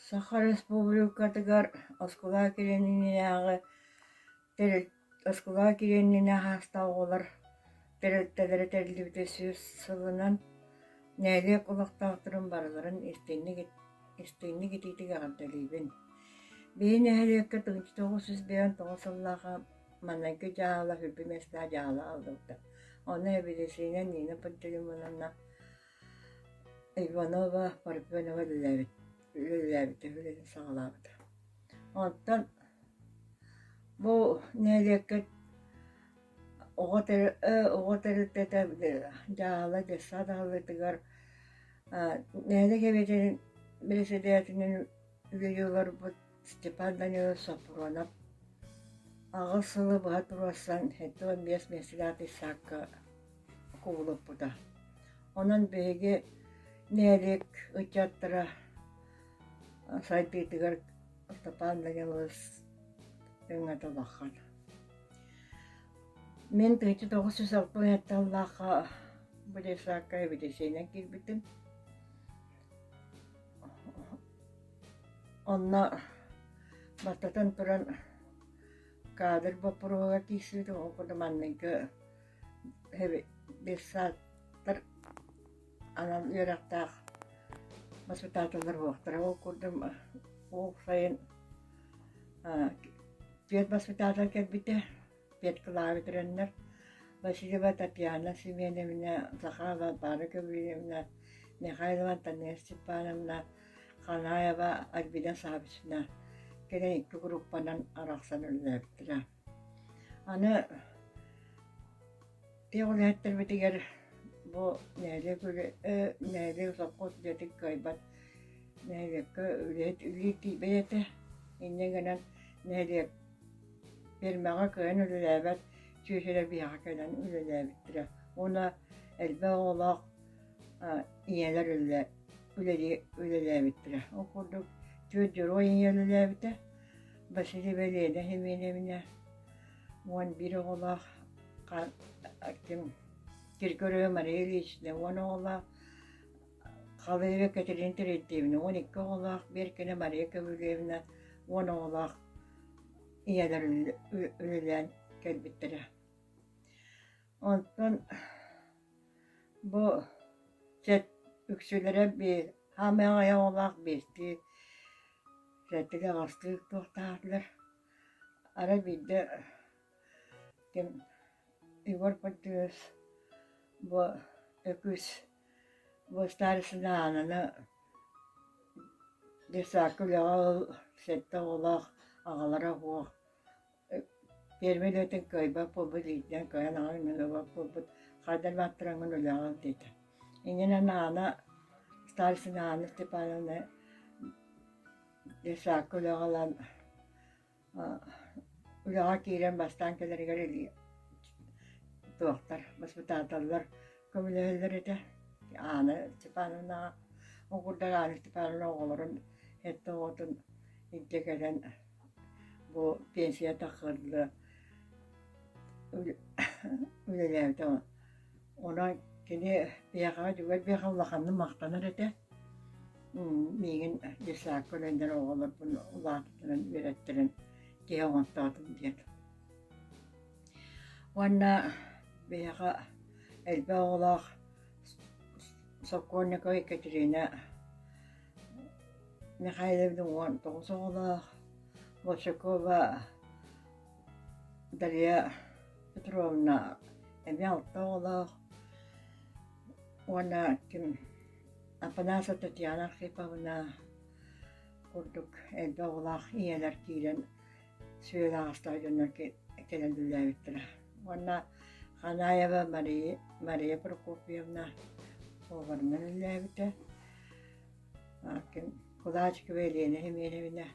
Саха Республикатыгар оскуола килиэниннээҕи тэрилт оскуола килиэнинэ хаастаах оҕолор тэрилтэлэрэ тэриллибитэ сүүс сылынан нэһилиэк олохтоохторун барыларын истиҥник истиҥник итиитик эҕэрдэлиибин. Биһи нэһилиэккэ 1999 сыллааҕы Маныгы дьаала үрбү миэстэҕэ дьаала аллыбыта. Ону эбилисиинэ Нина Пантелеймоновна Иванова Парфенова үлэлээбит үлэлээбитэ үлэтин саҕалаабыта. Онтон бу нэһилиэккэ оҕо тэр оҕо тэрилтэтэ дьаала детсад аһыллыытыгар нэһилиэк эбиэтин бэрэссэдээтэлинэн үлэлии олорбут Степан Данилович Сопронов аҕыс сылы быһа туруорсан сэттэ уон биэс миэстэлээх issakка кубулуппута. Онон биһиги нэһилиэк ыччаттара сайдыытыгар Степан Данилович өҥөтө улахан. Мин 1960 сыллаахха бу issакка эбитисиинэн киирбитим. Онно баттатан туран каадыр боппуруоһугар киирсибитим, ол курдук маннайгы детсадтар анал үөрэхтээх воспитательлар буолуохтара. Ол курдук ол сайын э, вет-воспитатель кэлбитэ. петкалаары көрөннөр Васильева Татьяна Семеновна, Захарова Вара Гаврильевна, Михайлова Антонина Степановна, Ханаева Альбина Савична кэлэн икки группанан арахсан өллөөбүттэрэ. Аны Иэҕүлээттэрбитигэр бу нэһилиэк үлэ нэһилиэк сопхуос үлэтин кыайбат нэһилиэккэ үлэһит үлэлиир тиийбэт этэ. Инньэ гынан нэһилиэк пиэрмэҕэ кыайан үлэлээбэт сүөсүлэ биһэҕэ кэлэн үлэлээбиттэрэ. Уонна элбэх оҕолоох ийэлэр үлэлээбиттэрэ. Ол курдук түөрт дьоруой ийэ үлэлээбитэ. Василий Валерия Хименевна уон биир оҕолоох ким Киргорой Мария Ильич уон оҕолоох Халыева Катерина Терентьевна уон икки оҕолоох Беркина Мария Ковылевна уон оҕолоох ийэлэр үлэлээн кэлбиттэрэ онтон бу чэт үксүлэрэ биир хаамай аҕай оҕолоох биирдии сэттилии аҕыстыы туохтаахтылар Ара биирдэ ким Егор Поддюев бу Өкүс бу старостины аананы детсадка үлэҕэ ыл сэттэ оҕолоох аҕалара суох пиэрмэ үлэтин кыайбат буолбут иитинэн кыайан аҕай мөҥүрбэт буолбут хайда да баттараҥҥын үлэҕин диэтэ иннинэн аана старостина Анна Степановна Саакка үлэҕэ ылан үлэҕэ киирэн бастаан кэлэригэр илии туохтар воспитателлар көмөлөһөллөр этэ. Аана Степановнаҕа Угурдар Аана Степановна оҕолорун эттэ оҕотун илдьэ кэлэн бу пенсия тахсылла үлэлээбитэ Онон кини эйиэхэҕэ дьүгэй биэхэ улаханнык махтанар этэ. миигин дьыссаакка үлэлэһэр оҕолорбун улаатытынан үөрэттэрэн киһи оҥортоотум диэн. Уонна биһиэхэ элбэх оҕолоох сокольникова Екатерина Михайловна уон тоҕус оҕолоох, Большакова Дария Петровна эмиэ алта оҕолоох уонна ким Афанасьева Татьяна Архиповна курдук элбэх оҕолоох ийэлэр киирэн сүөһү аҕастара дьоннор кэлэн үлэлээбиттэрэ уонна Ханаева Мария Мария Прокопьевна поварынан үлэлээбитэ ким Кулачкова Елена Семеновна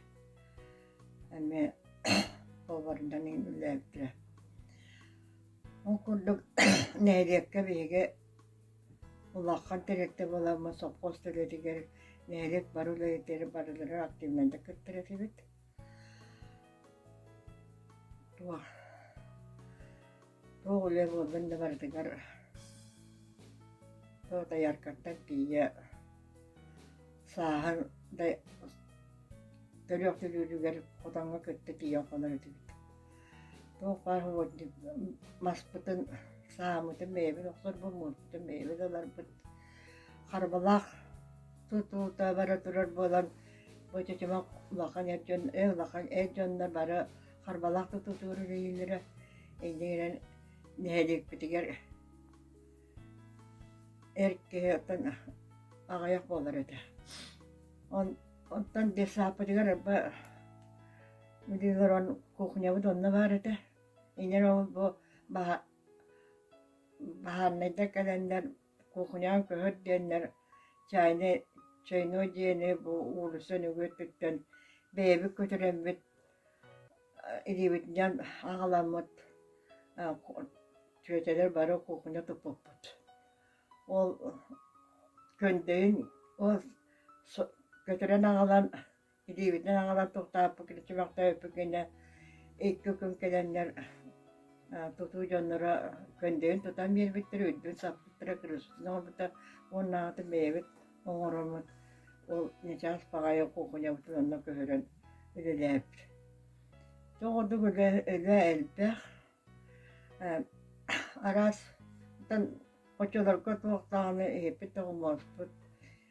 эмиэ повардан үлэлээбитэ. Ол курдук нэһилиэккэ биһиги улахан дириэктэр буоламмыт сопхуос үлэтигэр нэһилиэк бары үлэһиттэри барылары активнайдык кыттар этибит. Туох Туох үлэ буоллун да барытыгар то таяркаттан тиийэ сааһын да төлөөх төлүүрүгэр хотоҥҥо кытта тиийэн хонор этибит. Туох баар угодник маспытын, саамытын бэйэбин охсорбун, муутутун бэйэбин ыларбыт. Харбалаах тутуута бара турар буолан бу чочумах улахан эр дьон эр улахан эр дьоннор бары Харбалаах тутуутуур үрэйиилэрэ иннигинэн нэһилиэкпитигэр эр киһи оттон аҕайах буолар этэ. Он, онтон детсааппытыгар арба билиилэр кухнябыт онно баар этэ. Инен ол бу баха баһааннайда кэлэннэр Кухнян көһүт диэннэр чайный чайной диэни бу уулусса нөҥүөтүттэн бэйэбит көтүрэммит илиибитинэн аҕаламмыт чүөчэлэр бары кухня туппуппут. Ол көндөйүн ол көтүрэн аҕалан Илиибитин аҥалар тохтооппут киричимэхтээбиппит гинэ икки күн кэлэннэр тутуу дьонноро көндөйүн тутан биэрбиттэрэ, үрдүн саппыттара, крышканы оҥорбута уоннааҕыта бэйэбит оҥороммут. Ол начаас баҕайы кухнябытын онно көһөрөн үлэлээбит. Тоҕо ордук үлэ, үлэ элбэх. араас оччолорго туох даҕаны иһиппит да умуспут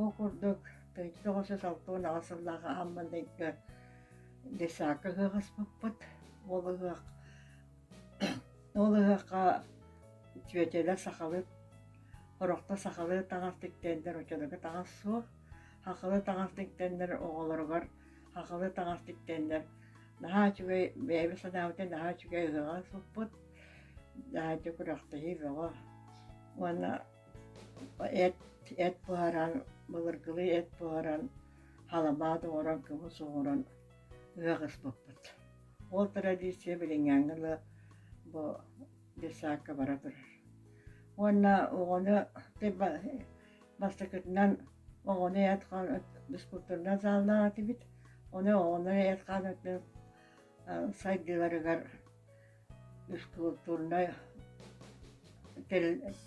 Ол курдук, төрүт тоҕуса салта уон аҕа сыллааҕы Амман ыйга Десака ыһыаҕаспыппыт. Ол ыһыах ол ыһыахха Чүөчэлэр сахалыы Хорохто сахалыы таҥастык тэннэр оччолорго таҥас суох. Хахалы таҥастык тэннэр оҕолоругар хахалы таҥастык тэннэр наһаа үчүгэй бэйэбит санаабытын наһаа үчүгэй ыһыаҕа суппут наһаа күрэхтэһии бөҕө уонна Эт, эт буһаран, былыргылыы эт буһаран, халабаат оҥорон, кымыс оҥорон ыһыаҕыспыппыт. Ол традиция билиҥҥээҥҥи да бу детсадка бара турар. Уонна оҕону бастакытынан оҕону эт-хаан физкультурнай заалынан этибит. Ону оҕону эт-хаан сайдыыларыгар искулптурнай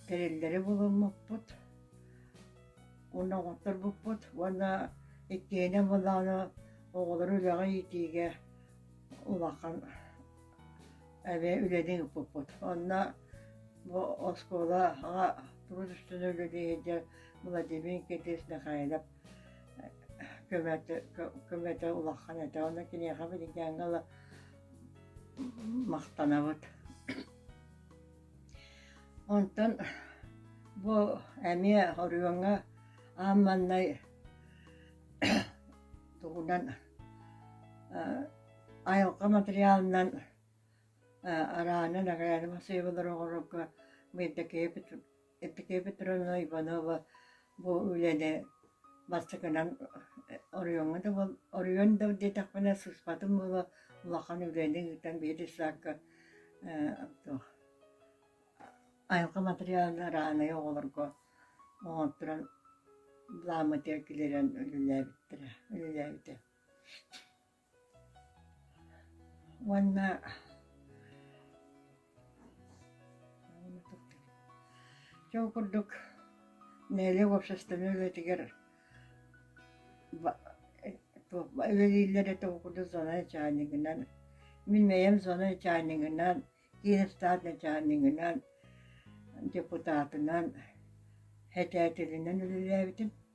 тэриллэри булуммуппут уонна оҥотторбуппут уонна иккиэнэ былааны оҕолору үлэҕэ иитиигэ улахан эмиэ үлэни ыыппыппыт онно бу оскуолаҕа тус үстүнэн үлэлиһиэдэ владимир никитич михайлов көмөтө көмөтө улахан этэ онно киниэхэ билиггээҥҥэ ыла махтанабыт онтон бу эмиэ оройуоҥҥа аан маҥнай тугунан айылҕа матырыйаалынан арааны нагараада массыыналары оҥорорго Мыйдакея Екатерина Петровна Иванова бу үлэни бастакынан оройуоҥҥа да буол оройуон да диэтэхпинэ сыспатым буола улахан үлэни ыытан биэс саакка айылҕа материалын араанайы оҕолорго оҥотторон бламота килэрэн үлэлээбиттэрэ үлэлээбитэ Уонна чего курдук нэһилиэк уопсастыбаннай үлэтигэр үлэлииллэр этэ ол курдук зона начальнигынан мин бэйэм зона начальнигынан киин ыстаат начальнигынан депутатынан этээтилинэн үлэлээбитим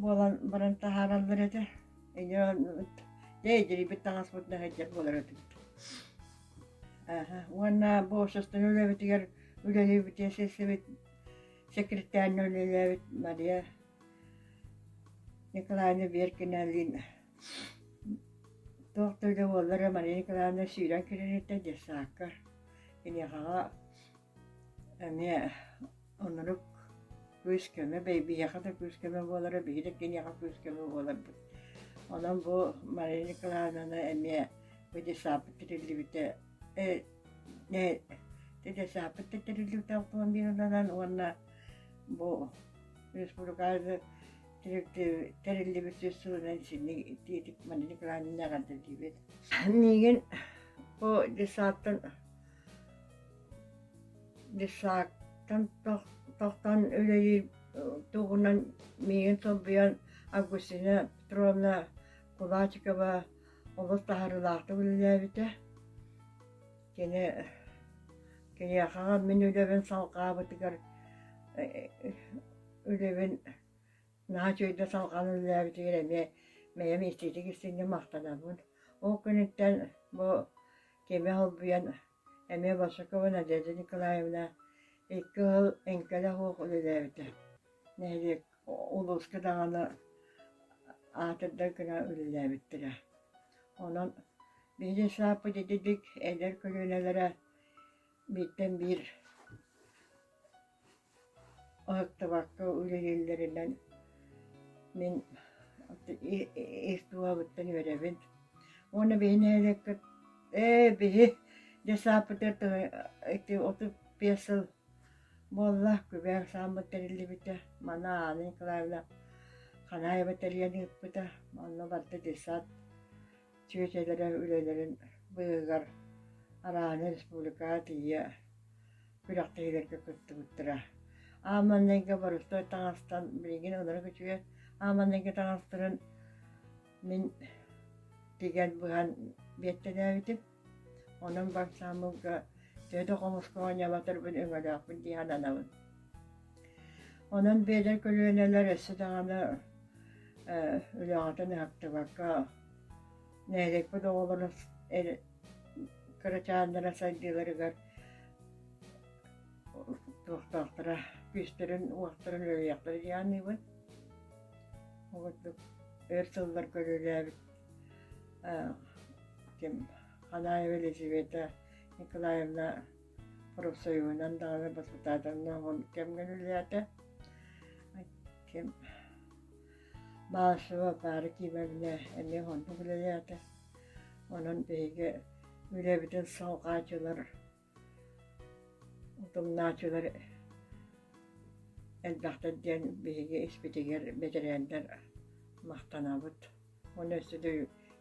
буолан баран таһаараллар этэ иньэ дьэ эдьирийбит таҥаспыт да сылдьар буолар этибит уонна бу састыҥы үлэбитигэр үлэлиибитин сиссэбит секретарьна үлэлээбит Мария Николаевна Беркиналина туох да үлэ буоллара Мария Николаевна сүүрэн кириниттэ детсаакка киниэхэҕэ эмиэ Оннук күүс-көмө, биһиэхэ да күүс-көмө буолара, биһиги киниэхэ күүс-көмө буоларбыт. Онон бу Мария Николаевнаны эмиэ бу десаппыт тириллибитэ э, э, десаппыт тириллибитэ автомобилынан уонна бу республикабыт тэриллибит сүүс сылынан синник тиитик Мария Николаевна эҕэрдэлиибит. Миигин бу десаттан Дишактан тохтон үлэлиир туһунан миигин солбуйан Августина Петровна Кулачикова олус таһаарыылаахтык үлэлээбитэ. Кини киниэхэҕэ мин үлэбин салҕаабытыгар үлэбин наһаа үчүгэйдик салҕаан үлэлээбитигэр эмиэ бэйэм институт истиҥҥэ махтанабын. Ол күнүттэн бу кэми холбуйан эмиэ Вашакова Надежда Николаевна икки ыал эҥкэлэх уох үлэлээбитэ нэһилиэк улууска даҕаны аатырдан гынан үлэлээбиттэрэ онон биһиги сааппыт ититик эдэр көлүөнэлэрэ бииртэн биир уһуктубакка үлэлииллэринэн мин ис дууһабыттан үөрэбин уонна биһи нэһилиэккэ ээ биһи дьассааппытыгар ити отут биэс сыл буолла күбээн сааммыт тэриллибитэ манан Анна Николаевна Ханаева тэрийэн ыыппыта онно барыта детсад чүөчэлэрэ үлэлэрин быыһыгар арааны республикаҕа тиийэ күрэхтэһиилэргэ кыттыбыттара. Ааманнайга боростуой таҥастан билигин ынырык үчүгэй ааманнайга таҥастарын мин тигэн быһан биэттэнээбитим. Онон бальсамылга төһө да хомуска оонньоботорбун өҥөлөөхпүн дии сананабын Онон биэдэр көлүөнэлэр өссө даҕаны э, үлэҕитин ыһыктыбакка нэһилиэкпит оҕолоро кырачааннара сайдыыларыгар туохтаахтара күүстэрин уохтарын үлэлиэхтэрэ дии аныыбын ол курдук өр сыллар көрүүлээбит э, ким Ханаева Елизавета Николаевна Профсоюһунан даҕаны воспитательнай оҕом кэмҥин үлэлээтэ. Ким Балашова Паара Кимовна эмиэ оннук үлэлээтэ. Онон биһиги үлэбитин салҕааччылар, утумнааччылар элбэхтэр диэн биһиги испитигэр бэтэрээннэр махтанабыт. Уонна өссө да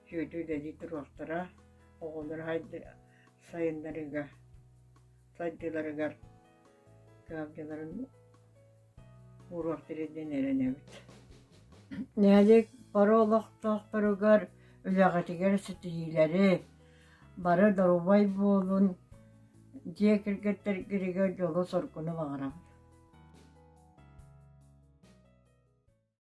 сүөдүү үлэлии туруохтара, оҕолоро сайыннарыыга, сайдыыларыгар кыһалдьыларын ууруохтара диэн эрэнэбит. Нэһилиэк бары олохтоохторугар үлэҕитигэр ситиһиилэри, бары доруобай буолун, дьиэ кэргэттэргитигэр дьолу-соргуну баҕарабыт.